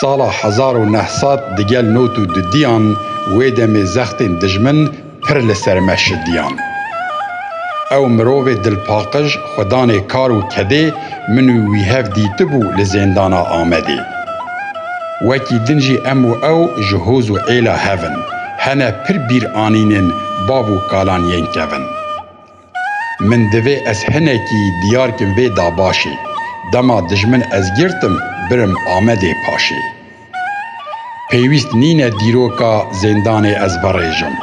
Sala hezar û neh sed di gel not û dudiyan wê demê zextên dijmin pir li ser me şidiyan. Ew mirovê dilpaqij xwe danê kar û kedê min û wî hev dîtibû li zêndana Amedê. Wekî din jî em û ew ji hoz û êla hev in, hene pir bîr anînên bav û kalan yên kevin. Min divê ez hinekî diyar kim vê dabaşê. Dema dijmin ez girtim, birim Amedê paşê. Pêwîst nîne dîroka zêndanê ez verêjim.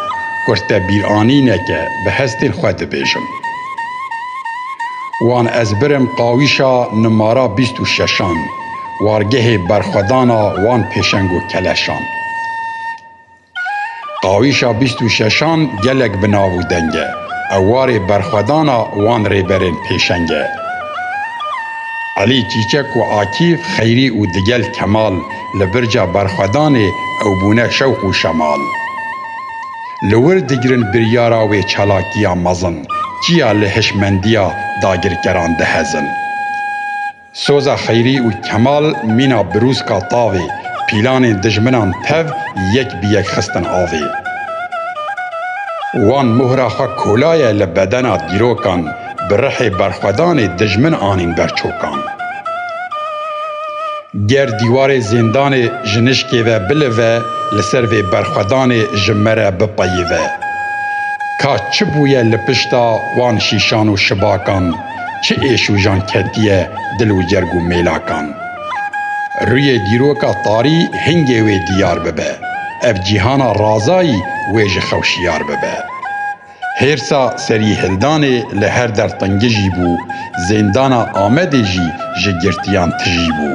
Kurte bîranîne ke bi hestên xwe dibêjim. Wan ez birim qawîşa nimara bîst û şeşan, wargehê berxwedana wan pêşeng û keleşan. Qawîşa bîst û şeşan gelek bi nav û deng e. Ew warê berxwedana wan rêberên pêşeng e. Elî Çîçek û Akîf Xeyrî û Digel Kemal li birca berxwedanê ew bûne şewq û şemal. Li wir digirin biryara wê çalakiya mezin, çiya li hişmendiya dagirkeran dihezin. Soza Xeyrî û Kemal mîna birûska tavê, pîlanên dijminan tev yek bi yek xistin avê. Wan mohra xwe kolaye li bedena dîrokan, bi rihê berxwedanê dijmin anîn ber çokan. Ger dîwarê zêndanê ji nişkê ve bilive, li ser vê berxwedanê ji me re bipeyive. Ka çi bûye li pişta wan şîşan û şibakan? Çi êşûjan ketiye dil û cerg û mêlakan. Rûyê dîroka tarî hingê wê dîyar bibe, ev cîhana razayî wê ji xew şiyar bibe. Hêrsa Serîhildanê li her der tingijî bû, zêndana Amedê jî ji girtiyan tijî bû.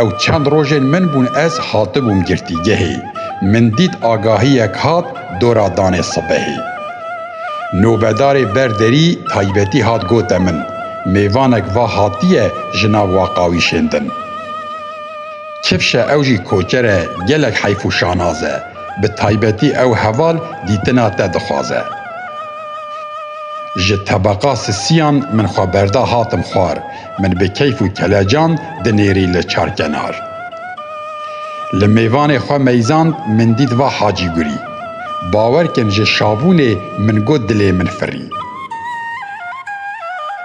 Ew çend rojên min bûn ez hatibûm girtîgehê, min dît agahiyek hat dora danê sibehê. Nobedarê ber derî taybetî hat gote min, mêvanek va hatiye ji nav waqawîşên din. Çifşe ew jî koçer e, gelek heyf û şanaz e. Bi taybetî ew heval dîtina te dixwaze. Ji tebeqa sisiyan min xwe berda hatim xwar. Min bi keyf û kelecan dinêrî li çarkenar. Li mêvanê xwe meyzand min dît va Hacî Gurî. Bawer kin ji şavûnê min got dilê min firî.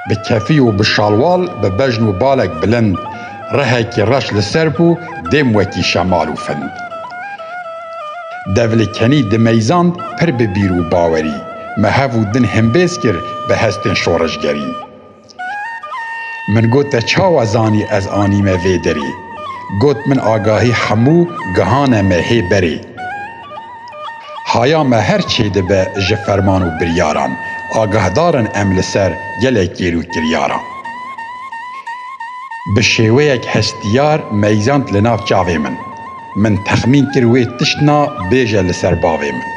Bi kefî û bi şalwal bi bejn û balek bilind rehekî reş li ser bû dêm wekî şemal û find. Dev li kenî dimeyzand pir bi bîr û bawerî. Me hev û din himbêz kir bi hestên şoreşgerî. Min got te çawa zanî ez anîme vê derê? Got min agahî hemû gihane me hê berê. Haya me her çê dibe ji ferman û biryaran, agahdar in em li ser gelek kêr û kiryaran. Bi şêweyek hestiyar meyzand li nav çavê min. Min texmîn kir wê tişt na bêje li ser bavê min.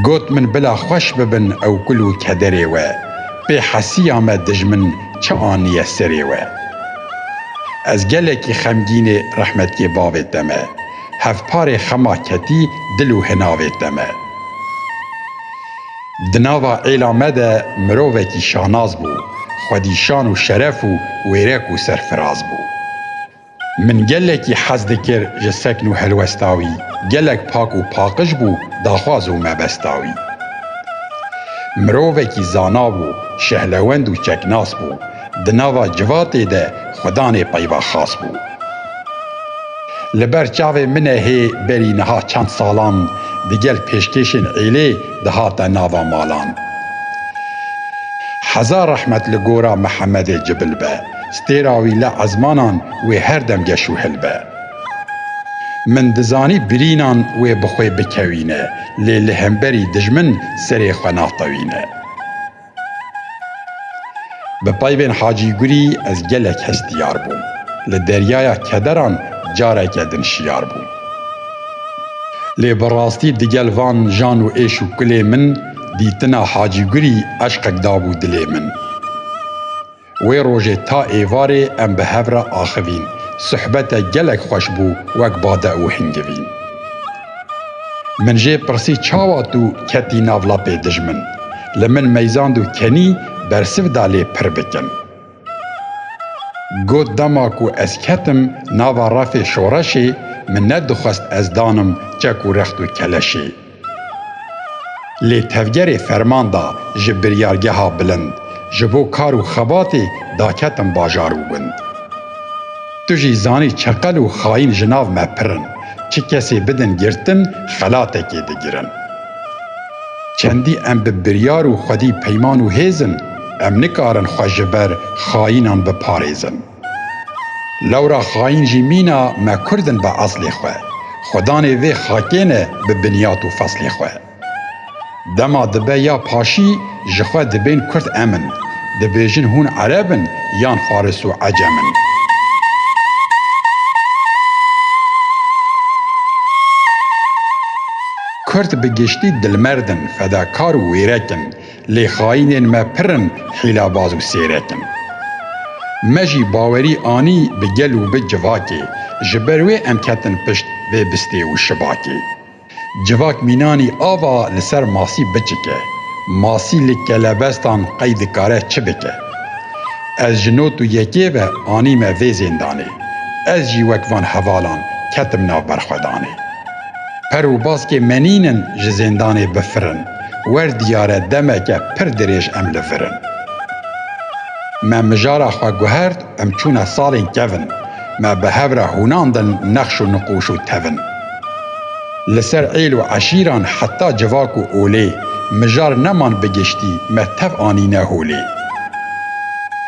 Got min bila xweş bibin ew gul û kederê we, pê hesiya me dijmin çi aniye serê we. Ez gelekî xemgînê rehmetkê bavê te me, hevparê xema ketî dil û hinavê te me. Di nava êla me de mirovekî şanaz bû, xwedîşan û şeref û wêrek û serfiraz bû. Min gelekî hez dikir ji sekn û helwesta wî, gelek pak û paqij bû, daxwaz û mebesta wî. Mirovekî zana bû, şehlewend û çeknas bû, di nava civatê de xwe danê peyva xas bû. Li ber çavê min e hê berî niha çend salan di gel pêşkêşên êlê dihate nava malan. Heza rehmet li gora Mihemedê Cibil be. Stêra wî li ezmanan wê her dem geş û hil be. Min dizanî birînan wê bi xwe bikewîne lê li hemberî dijmin serê xwe naxtewîne. Bi peyvên Hacî Gurî ez gelek hestiyar bûm. Li deryaya kederan careke din şiyar bûm. Lê bi rastî digel van jan û êş û kulê min dîtina Hacî Gurî eşqek dabû dilê min. Wê rojê ta êvarê em bi hev re axivîn. Suhbete gelek xweş bû wek bade û hingivîn. Min jê pirsî çawa tu ketî nav lapê dijmin? Li min meyzand û kenî bersiv da lê pir bikim. Got dema ku ez ketim nava refê şoreşê min ne dixwest ez danim çek û rext û keleşê. Lê tevgerê ferman da ji biryargeha bilind, ji bo kar û xebatê daketim bajar û gund. Tu jî zanî çeqel û xayîn ji nav me pir in, çi kesê bidin girtin xelatekê digirin. Çendî em bi biryar û xwedî peyman û hêz in, em nikarin xwe ji ber xayînan biparêzin. Lewra xayîn jî mîna me kurd in bi eslê xwe, xwedanê vê xakê ne bi binyat û feslê xwe. Dema dibe ya paşî ji xwe dibên kurd em in, dibêjin hûn ereb in yan faris û ecem in. Kurd bi giştî dilmerd in, fedakar û wêrek in, Lê xayînên me pir in hîlabaz û sêret in. Me jî bawerî anî bi gel û bi civakê, ji ber wê em ketin pişt vê bistê û şibakê. Civak mînanî ava li ser masî biçike. Masî li kelebestan qey dikare çi bike. Ez ji not û yekê ve anîme vê zêndanê. Ez jî wek van hevalan ketim nav berxwedanê. Per û baskê menînin ji zêndanê bifirin, wer diyare demeke pir dirêj em li vir in. Me mijara xwe guhert, em çûne salên kevn, me bi hev re hûnandin nexş û niqûş û tevn. Li ser êl û eşîran heta civak û olê, mijar neman bi giştî me tev anîne holê.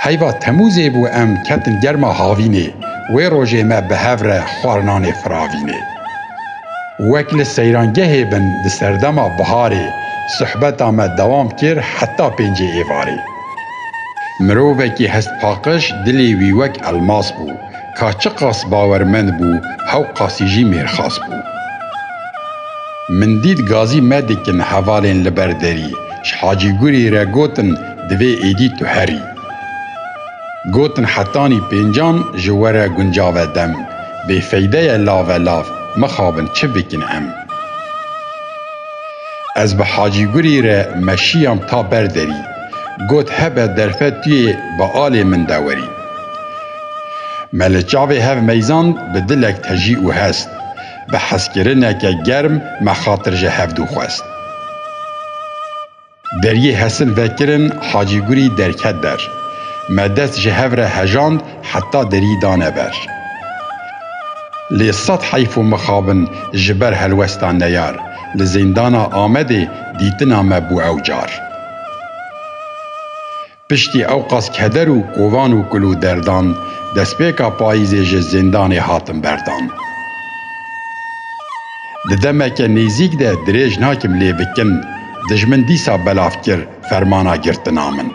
Heyva Temûzê bû em ketin germa havînê, wê rojê me bi hev re xwarinanê firavînê. Wek li seyrangehê bin di serdema biharê sohbeta me dewam kir heta pêncê êvarê. Mirovekî hestpaqij dilê wî wek elmas bû, ka çiqas bawermend bû hew qasî jî mêrxas bû. Min dît gazî me dikin hevalên li ber derî, ji Hacî Gurî re gotin divê êdî tu herî. Gotin hetanî pêncan ji were guncave dem. Bêfeyde ye lave lav mixabin çi bikin em. Ez bi Hacî Gurî re meşiyam ta ber derî. Got hebe derfe tu yê bi alê min de werî. Me li çavê hev meyzand bi dilek tejî û hest. Bi hezkirineke germ me xatir ji hev dû xwest. Deriyê Hesil vekirin Hacî Gurî derket der. Me dest ji hev re hejand heta derî dane ber. Lê sed heyf û mixabin ji ber helwesta neyar li Zîndana Amedê dîtina me bû ew car. Piştî ewqas keder û kovan û kul û derdan, destpêka payîzê ji zindanê hatim berdan. Di demeke nêzîk de dirêj nakim lê bi kin dijmin dîsa belav kir fermana girtina min.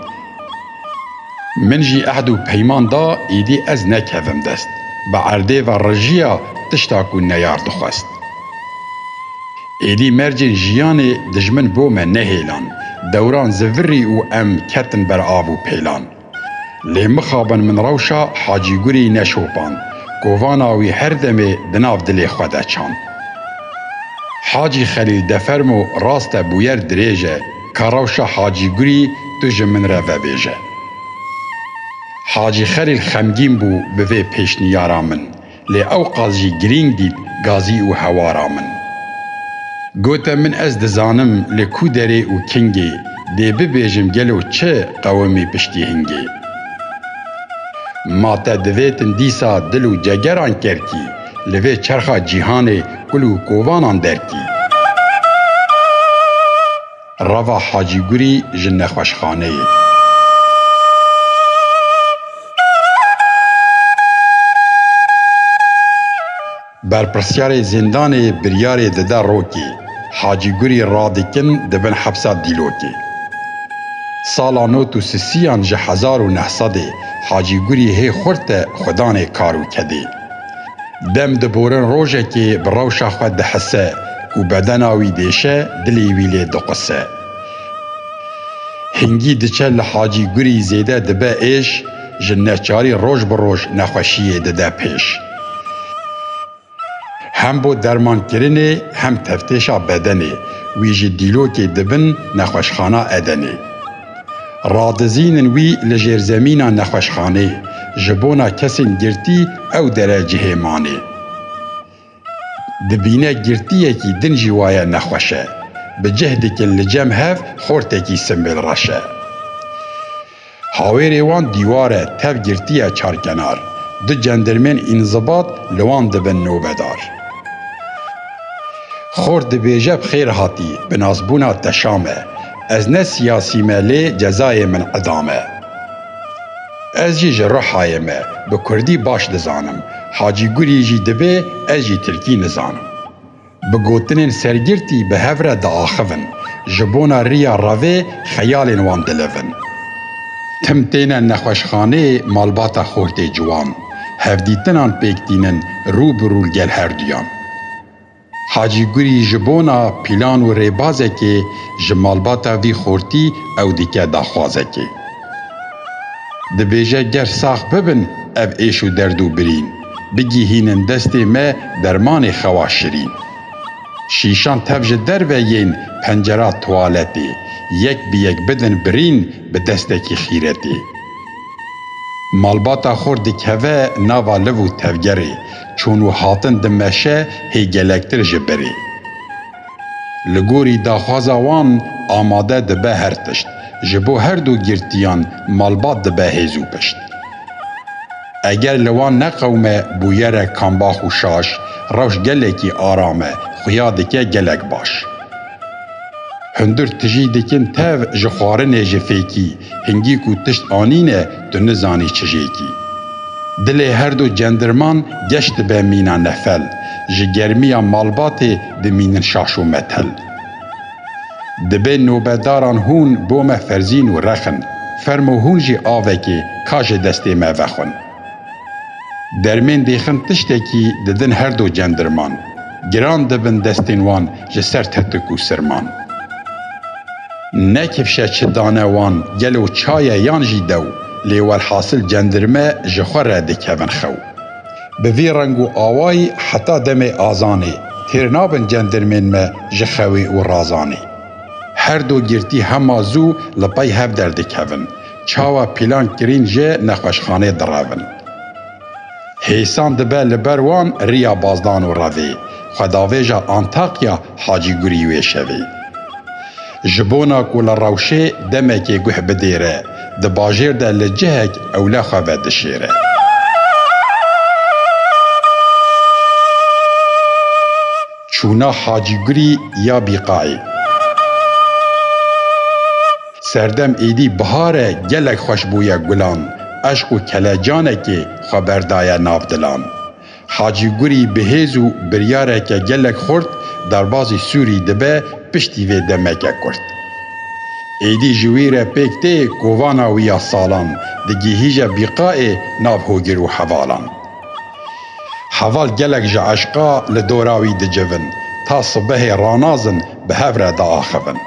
Min jî ehd û peyman da îdî ez nekevim dest bi erdê ve rijiya tişta ku neyar dixwest. Êdî mercên jiyanê dijmin bo me nehêlan, dewran zivirî û em ketin ber av û pêlan. Lê mixabin min rewşa Hacî Gurî neşopand, kovana wî her demê di nav dilê xwe de çand. Hacî Xelîl de fermo rast e bûyer dirêj e, ka rewşa Hacî Gurî tu ji min re vebêje. Hacî Xelîl xemgîn bû bi vê pêşniyara min. Lê ew qas jî girîng dît gazî û hewara min. Gote min ez dizanim li ku derê û kingê dê bibêjim gelo çi qewimî piştî hingê. Ma te divêtin dîsa dil û cegeran kerkî li vê çerxa cîhanê kul û kovanan derkî. Rava Hacî Gurî ji nexweşxaneyê. Berpirsyarê zîndanê biryarê dide rokê, Hacî Gurî radikin di bin hepsa Dîlokê. Sala not û sisiyan ji hezar û neh sedê Hacî Gurî hê xurt de xwe danê kar û kedê. Dem diborin rojekê bi rewşa xwe dihise, ku bedena wî dêşe, dilê wî lê diquse. Hingî diçe li Hacî Gurî zêde dibe êş, ji neçarî roj bi roj nexweşiyê dide pêş. Hem bo dermankirinê hem tevtêşa bedenê, wî ji dîlokê di bin nexweşxana Edenê. Radizînin wî li jêrzemîna nexweşxanê, ji bona kesên girtî ew dere cihê manê. Dibîne girtiyekî din jî waye nexweş e. Bi cih dikin li cem hev xortekî simbêl reş e. Hawêrê wan dîwar e, tev girtiye çarkenar. Du cendirmên înzibat li wan dibin nobedar. Xort dibêje bi xêr hatî, bi nasbûna teşam e. Ez ne siyasî me lê cezayê min idam e. Ez jî ji Rihayê me bi kurdî baş dizanim. Hacî Gurî jî divê ez jî tirkî nizanim. Bi gotinên sergirtî bi hev re diaxivin. Ji bona riya revê xeyalên wan dilivin. Tim têne nexweşxaneyê malbata Xortê Ciwan. Hevdîtinan pêk tînin rû bi rû gel herduyan. Hacî Gurî ji bona pîlan û rêbazekê ji malbata vî xortî ew dike daxwazekê. Dibêje ger sax bibin ev êş û derd û birîn, bigihînin destê me dermanê xewa şirîn. Şîşan tev ji derve yên pencera tuwaletê, yek bi yek bidin birîn bi destekî xîretê. Malbata xort dikeve nava liv û tevgerê, Çûn û hatin di meşe hê gelektir ji birê. Li gorî daxwaza wan amade dibe her tişt, ji bo her du girtiyan malbat dibe hêz û pişt. Eger li wan neqewime bûyere kambax û şaş, rewş gelekî aram e, xuya dike gelek baş. Hundir tijî dikin tev ji xwarinê ji fêkî, hingî ku tişt anîne tu nizanî çijêkî. Dilê her du cendirman geş dibe mîna nefel, ji germiya malbatê dimînin şaş û metel. Dibe nobedaran hûn bo me ferzîn û rexin, fermo hûn jî avekê ka ji destê me vexwin. Dermên dêxin tiştekî didin her do cendirman, giran dibin destên wan ji ser tetik û sirman. Ne kifşe çi dane wan gelo çaye yan jî dew, lê welhasil cendirme ji xwe re dikevin xew. Bi vî reng û awayî heta demê azanê, têr nabin cendirmên me ji xewê û razanê. Her do girtî hema zû li pey hev derdikevin, Çawa pîlan kirîn jê nexweşxanê diravin. Hêsan dibe li ber wan riya Bazdan û revê xwedavêja Antakya Hacî Gurî wê şevê. Ji bona ku li rewşê demekê guh bidêre, di bajêr de li cihek ewle xwe vedişêre. Çûna Hacî Gurî ya Bîqayê. Serdem êdî bihar e gelek xweş bûye gulan eşq û kelecanekê xwe berdaye nav dilan. Hacî Gurî bi hêz û biryareke gelek xurt derbazî Sûrî dibe piştî vê demeke kurt. Êdî ji wî re pêk tê kovana wî ya salan digihîje bîqaê nav hogir û hevalan. Heval gelek ji eşqa li dora wî dicivin, ta sibehê ranazin bi hev re diaxivin.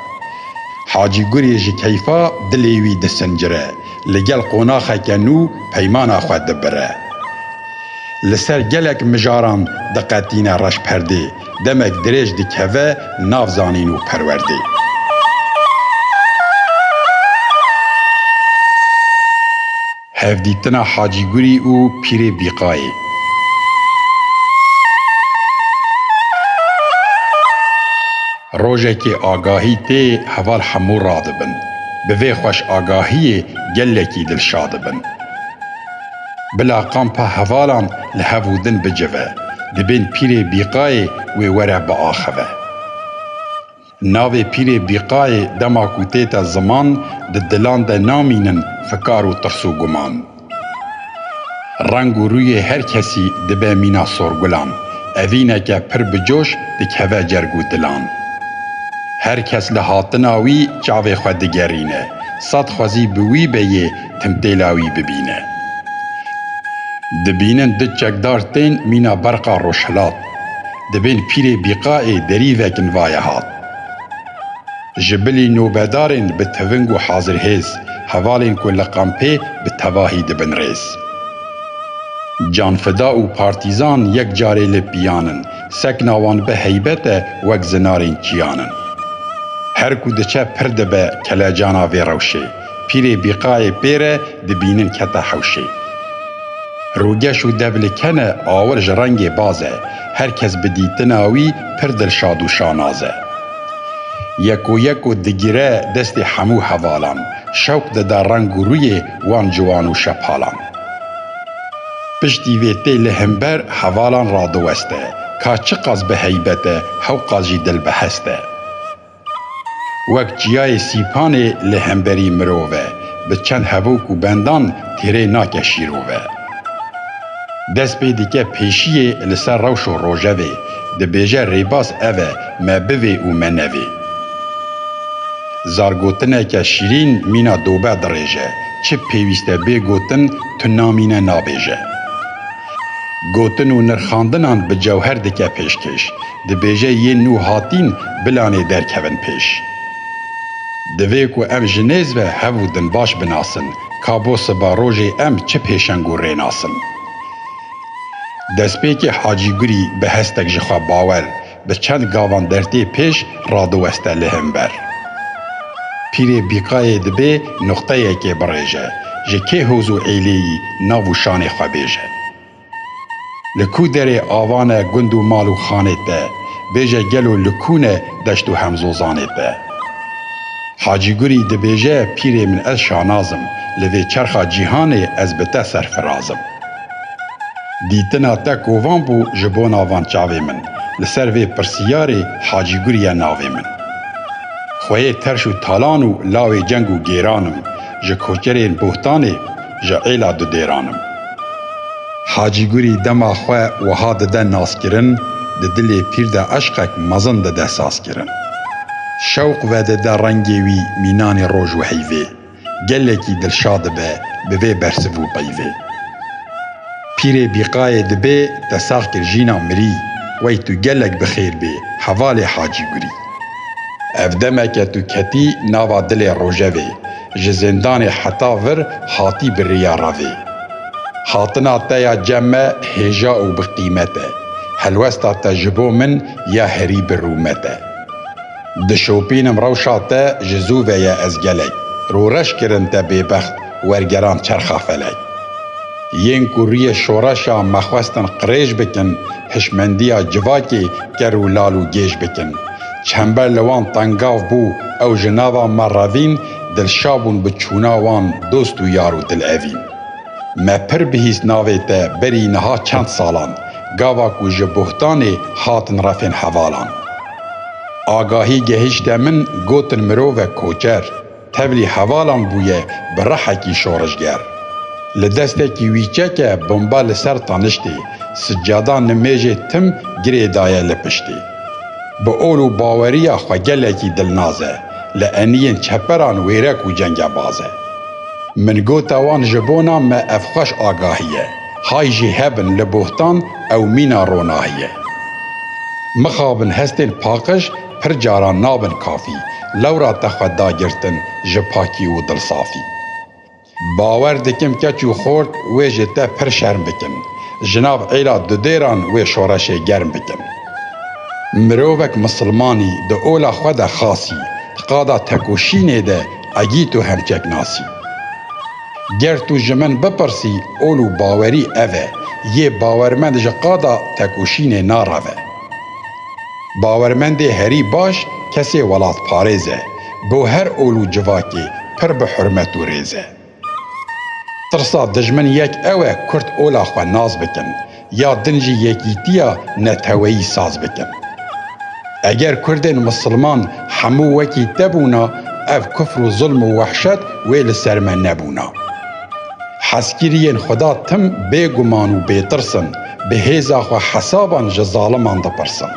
Hacî Gurê ji keyfa dilê wî disincire, li gel qonaxeke nû peymana xwe dibire. Li ser gelek mijaran diqetîne reşperdê, demek dirêj dikeve nav zanîn û perwerdê. Hevdîtina Hacî Gurî û Pîrê Bîqayê. Rojekê agahî tê heval hemû radibin. Bi vê xweş agahiyê gelekî dilşa dibin. Bila kampa hevalan li hev û din bicive. Dibên Pîrê Bîqayê wê were biaxive. Navê Pîrê Bîqayê dema ku tête ziman di dilan de namînin fikar û tirs û guman. Reng û rûyê her kesî dibe mîna sorgulan, evîneke pir bi coş dikeve cerg û dilan. Her kes li hatina wî çavê xwe digerîne, sed xwezî bi wî be yê timtêla wî bibîne. Dibînin du çekdar tên mîna berqa rojhilat. Di vên pîrê bîqaê derî vekin vaye hat. Ji bilî nobedarên bi tiving û hazirhêz, hevalên ku li kampê bi tevahî dibin rêz. Canfida û partîzan yek carê li pîyan in, sekna wan bi heybet e wek zinarên kîyan in. Her ku diçe pir dibe kelecana vê rewşê. Pîrê bîqayê pê re dibînin kete hewşê. Rûgeş û devlê kene awir ji rengê baz e, her kes bi dîtina wî pir dilşad û şanaz e. Yeko yeko digire destê hemû hevalan, şewq dide reng û rûyê wan ciwan û şepalan. Piştî vê tê li himber hevalan radiweste, ka çiqas bi heybet e, hewqas jî dil bi hest e. Wek çiyayê Sîpanê li hemberî mirov e, bi çend hevok û bendan têrê nake şîrov e. Dest pê dike pêşiyê li ser rewş û rojevê, dibêje rêbaz ev e, me bivê û me nevê. Zargotineke şîrîn mîna dobe dirêje, çi pêwîst e bê gotin tu namîne nabêje. Gotin û nirxandinan bi cewher dike pêşkêş. Dibêje yên nû hatîn bilanê derkevin pêş. Divê ku em ji nêz ve hev û din baş binasin ka bo siba rojê em çi pêşeng û rê nasin. Destpêkê Hacî Gurî bi hestek ji xwe bawer bi çend gavan dertê pêş radiweste li him ber. Pîrê Bîqayê dibê nuqteyekê birêje, ji kê hoz û êlêyî nav û şanê xwe bêje. Li ku derê ava ne gund û mal û xanê te, bêje gelo li ku ne deşt û hemzozanê te. Hacî Gurî dibêje pîrê min ez şanaz im, li vê çerxa cîhanê ez bi te serfiraz im. Dîtina te kovan bû ji bona van çavê min, li ser vê pirsiyarê Hacî Gurî ye navê min. Xweyê terş û talan û lawê ceng û gêran im, ji koçerên bohtanê, ji êla didêran im. Hacî Gurî dema xwe wiha dide naskirin, di dilê pîr de eşqek mezin dide sazkirin. Şewq vedide rengê wî mînanê roj û heyvê, gelekî dilşa dibe bi vê bersiv û peyvê. Pîrê Bîqayê dibê te sax kir jîna mirî, wey tu gelek bi xêr bê, hevalê Hacî Gurî. Ev demeke tu ketî nava dilê rojevê, Ji zindanê heta vir hatî bi riya re vê. Hatina te ya cem me hêja û bi qîmet e. Helwesta te ji bo min ya herî bi rûmet e. Dişopînim rewşa te ji zû ve ye ez gelek. Rû reş kirin te bêbext wergeran çerxa felek. Yên ku rûyê şoreşa me xwestin qirêj bikin, hişmendiya civakê ker û lal û gêj bikin. Çember li wan tengav bû, ew ji nava me re vîn, dilşa bûn bi çûna wan dost û yar û dilevîn. Me pir bihîst navê te berî niha çend salan, gava ku ji Buhtanê hatin refên hevalan. Agahî gehîşte min, gotin mirov e koçer. Tevlî hevalan bûye bi rihekî şoreşger. Li destekî wî çeke bomba li ser taniştê, sicada nimêjê tim girê daye li piştê. Bi ol û baweriya xwe gelekî dilnaz e, li eniyên çeperan wêrek û cengebaz e. Min gote wan ji bona me ev xweş agahî ye, hay jî hebin li bohtan ew mîna ronahî ye. Mixabin hestên paqij pir caran nabin kafî, lewra te xwe da girtin ji pakî û dilsafî. Bawer dikim keç û xort wê ji te pir şerm bikin, ji nav êla dudêran wê şoreşê germ bikin. Mirovek misilmanî di ola xwe de xasî, di qada tekoşînê de egî tu hemçek nasî. Ger tu ji min bipirsî ol û bawerî ev e, yê bawermend ji qada tekoşînê nareve. Bawermendê herî baş kesê welatparêz e, bo her ol û civakê pir bi hurmet û rêz e. Tirsa dijmin yek ew e kurd ola xwe nas bikin, ya din jî yekîtiya neteweyî saz bikin. Eger kurdên misilman hemû wekî te bûna, ev kufr û zilm û wehşet wê li ser me nebûna. Hezkiriyên Xweda tim bêguman û bêtirs in, bi hêza xwe hesaban ji zaliman dipirsin.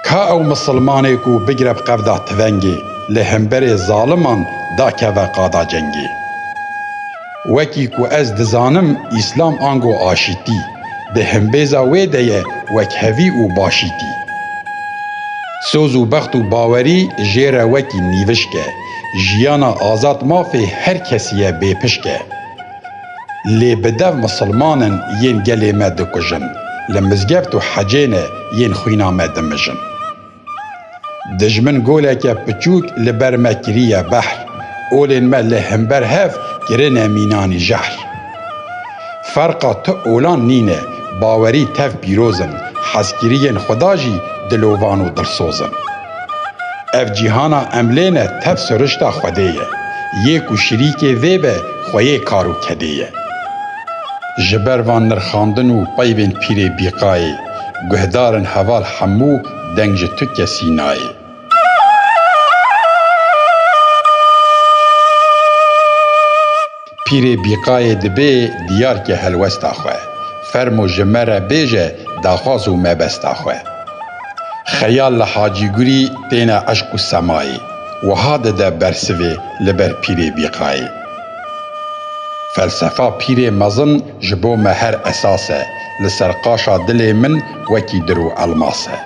Ka ew misilmanê ku bigire bi qevda tivengê, li hemberê zaliman da keve qada cengê. Wekî ku ez dizanim Îslam ango aşîtî, di himbêza wê de ye wekhevî û başîtî. Soz û bext û bawerî jê re wekî nîvişk e. Jiyana azad mafê her kesî ye bêpişk e. Lê bi dev misilmanin yên gelê me dikujin, li mizgeft û hecêne yên xwîna me dimijin. Dijmin goleke piçûk li ber me kiriye behr, olên me li himber hev kirine mînanî jehr. Ferqa tu olan nîne, bawerî tev pîroz in, hezkiriyên Xweda jî dilovan û dilsoz in. Ev cîhana em lê ne tev sirişta Xwedê ye, yê ku şirîkê vê be xwe yê kar û kedê ye. Ji ber van nirxandin û peyvên Pîrê Bîqayê, guhdar in heval hemû deng ji tu kesî nayê. Pîrê Bîqayê dibê diyar ke helwesta xwe, fermo ji me re bêje daxwaz û mebesta xwe. Xeyal li Hacî Gurî têne eşq û semayê, wiha dide bersivê li ber Pîrê Bîqayê. Felsefa pîrê mezin ji bo me her esas e, li ser qaşa dilê min wekî dir û elmas e.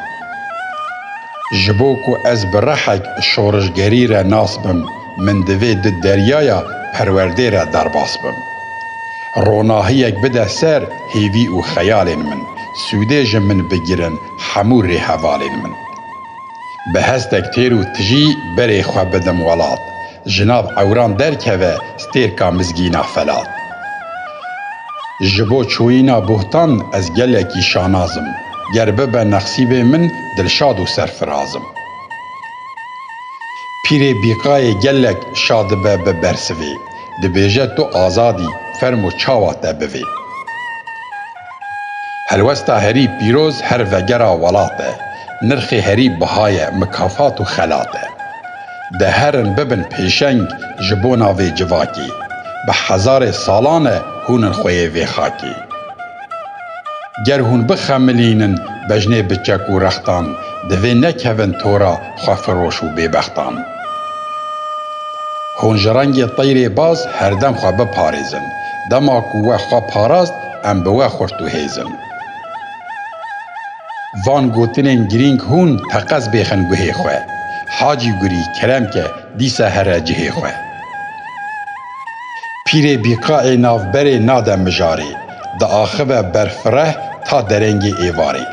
Ji bo ku ez bi rehek şorişgerî re nas bim, min divê di deryaya perwerdê re derbas bim. Ronahiyek bide ser hêvî û xeyalên min, sûdê ji min bigirin hemû rêhevalên min. Bi hestek têr û tijî berê xwe bidim welat, Ji nav ewran derkeve stêrka mizgîna Felat. Ji bo çûyîna Buhtan ez gelekî şanaz im. Ger bibe nexsîbê min dilşad û serfiraz im. Pîrê Bîqayê gelek şa dibe bi bersivê. Dibêje tu azad î, fermo çawa te bivê. Helwesta herî pîroz her vegera welat e. Nirxê herî biha ye, mikafat û xelat e. Di herin bibin pêşeng ji bona vê civakê. Bi hezarê salan e hûn in xwe yê vê xakê. Ger hûn bixemilînin bejnê bi çek û rextan, divê nekevin tora xwefiroş û bêbextan. Hûn ji rengê teyrê baz herdem xwe biparêzin. Dema ku we xwe parast, em bi we xurt û hêz in. Van gotinên girîng hûn teqez bêxin guhê xwe. Hacî Gurî kerem ke dîsa here cihê xwe. Pîrê bîqaê navberê nade mijarê, diaxive ber fireh ta derengê êvarê.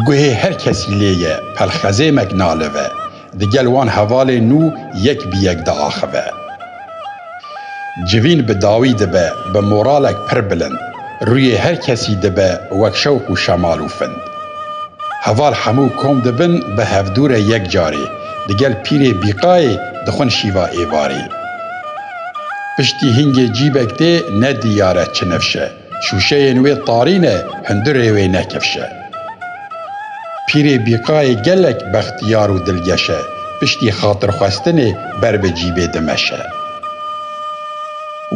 Guhê her kesî lê ye, pelxezêmek nalive. Di gel wan hevalên nû yek bi yek diaxive. Civîn bi dawî dibe bi moralek pir bilind. Rûyê her kesî dibe wek şewq û şemal û find. Heval hemû kom dibin bi hevdû re yek carê, di gel pîrê bîqayê dixwin şîva êvarê. Piştî hingê cîbek tê ne diyare çi nifş e. Şûşeyên wê tarî ne, hundirê wê ne kevş e. Pîrê bîqayê gelek bextiyar û dilgeş e, piştî xatirxwestinê ber bi cîbê dimeşe.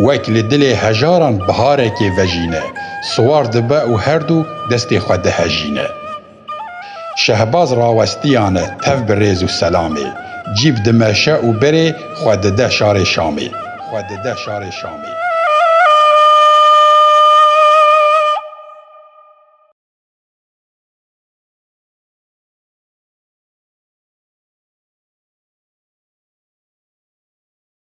Wek li dilê hejaran biharekê vejîne, siwar dibe û herdû destê xwe dihejîne. Şehbaz rawestiyane tev bi rêz û selamê, cîb dimeşe û berê xwe dide şarê Şamê, xwe dide şarê Şamê.